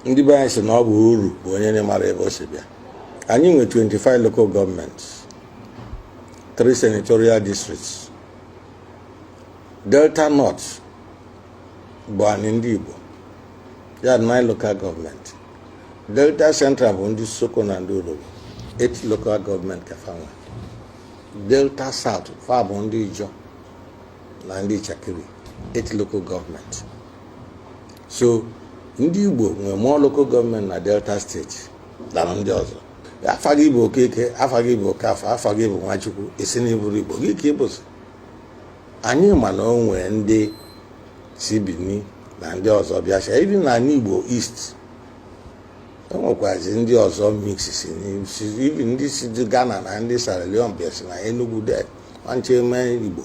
ndị be anyị sị na ọ bụ oru bụ onye na-amarọ ebe o si bịa anyị nwe 25 local governments 3 senatorial districts delta north bụ anyị ndị igbo ya 9 local government delta central bụ ndị isoko na ndị urhobo 8 local government ka fa nwe delta south fa bụ ndị ijọ na ndị itsekiri 8 local government so ndị igbo nwee more local government na delta state than ndị ọzọ afa gị bụ okeke afa gị bụ okafọ afa gị bụ nwachukwu ị sị na ị bụrọ igbo gịnị ka ị bụzi anyị ma na o nwee ndị si bini na ndị ọzọ bịasịa even na anị igbo east e nwekwazi ndị ọzọ mix even ndị si ghana na ndị sierra leone bịa si na enugu de nwanche mee igbo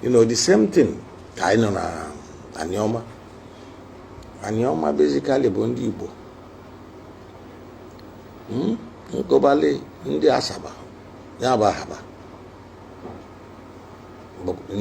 you know the same thing ka anyị nọ na aniọma aniọma basically bụ ndị Igbo hmm? nkobali ndị Asaba ya bụ Ahaba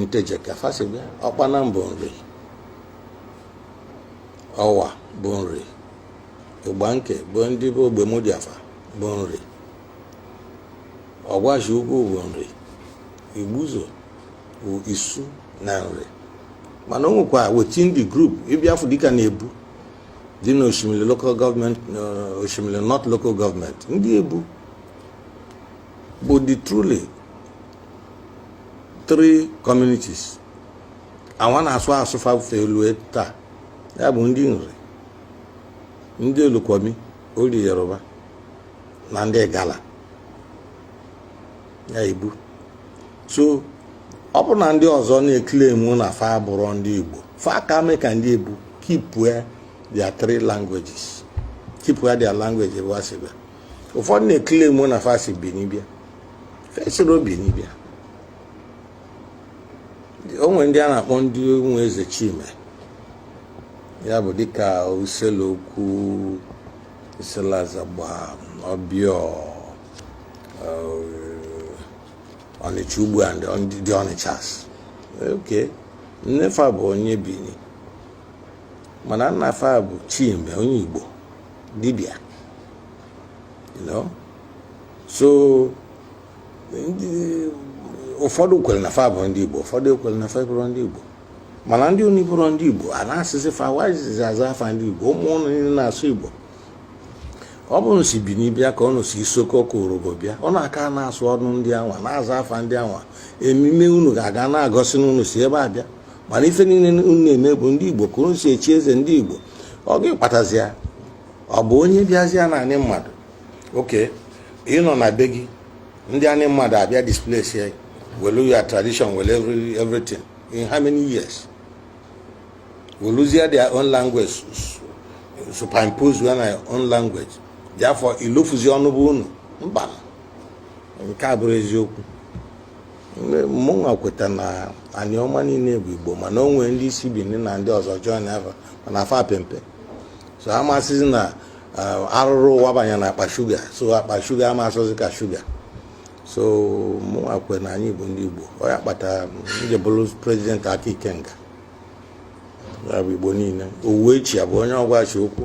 nteje ka fa si bịa ọkpanam bụ nri ọwa bụ nri igbanke bụ ndị be ogbemudia fa bụ nri ọgwashi uku bụ nri igbuzo bụ isu na nri mana o nwekwa within the group ị bịa fụ dịka na ebu dị na oshimili local government uh, oshimili north local government ndị ebu bụ the truly three communities awa na-asụ asụ fa fee lue taa ya bụ ndị nri ndị olukumi or yoruba na ndị igala ya ebu so ọ bụrụ na ndị ọzọ na-eclaim na fa abụrọ ndị igbo fa ka mee ka ndị ebu keep their three languages keep their language ebe ha si bịa ụfọdụ na-eclaim na fa si Benin bịa fa esirọ Benin bịa o nwere ndị a na-akpọ ndị nwe eze chime ya bụ dịka issele uku issele azagba obior ọnịcha ugbo and the ọnịchas okay nne fa bụ onye bini mana nna fa bụ chime onye igbo dibịa so ụfọdụ kwere na fa bụ ndị igbo ụfọdụ kwere na fa abụrọ ndị igbo mana ndị ụnụ abụrọ ndị igbo a na-asị sị fa wa jizi aza afa ndị igbo ụmụ ụnụ niile na-asụ igbo ọ bụ unu si bini bịa ka unu si isoko ka urhobo bịa unu aka na-asụ ọnụ ndị anwa na-aza afa ndị anwa emume unu ga-aka na-egosi n'unu si ebe a bịa mana ife niile unu na-eme bụ ndị igbo ka unu si echi eze ndị igbo ọ gịnị kpatazi ya ọ bụ onye bịazịa na anị mmadụ okay ị nọ na be gị ndị anị mmadụ abịa displace ya welu your tradition welu everything in how many years weluzia their own language superimpose on our own language therefore ilofuzi ọnụ be unu mba nke a abụrọ eziokwu mụnwa kweta na anịọma niile bụ igbo mana o nwere ndị si bini na ndị ọzọ join ava mana fa pe mpe so a ma-asịzi na uh, arụrụ wabanye na akpa shuga so akpa shuga ama-asọzi ka shuga so mụnwa kwe na anyị bụ ndị Igbo ọ ya kpata onye bụrụ prezident aka ikenga ya bụ Igbo niile Uwechue bụ onye Ọgwashị-Ukwu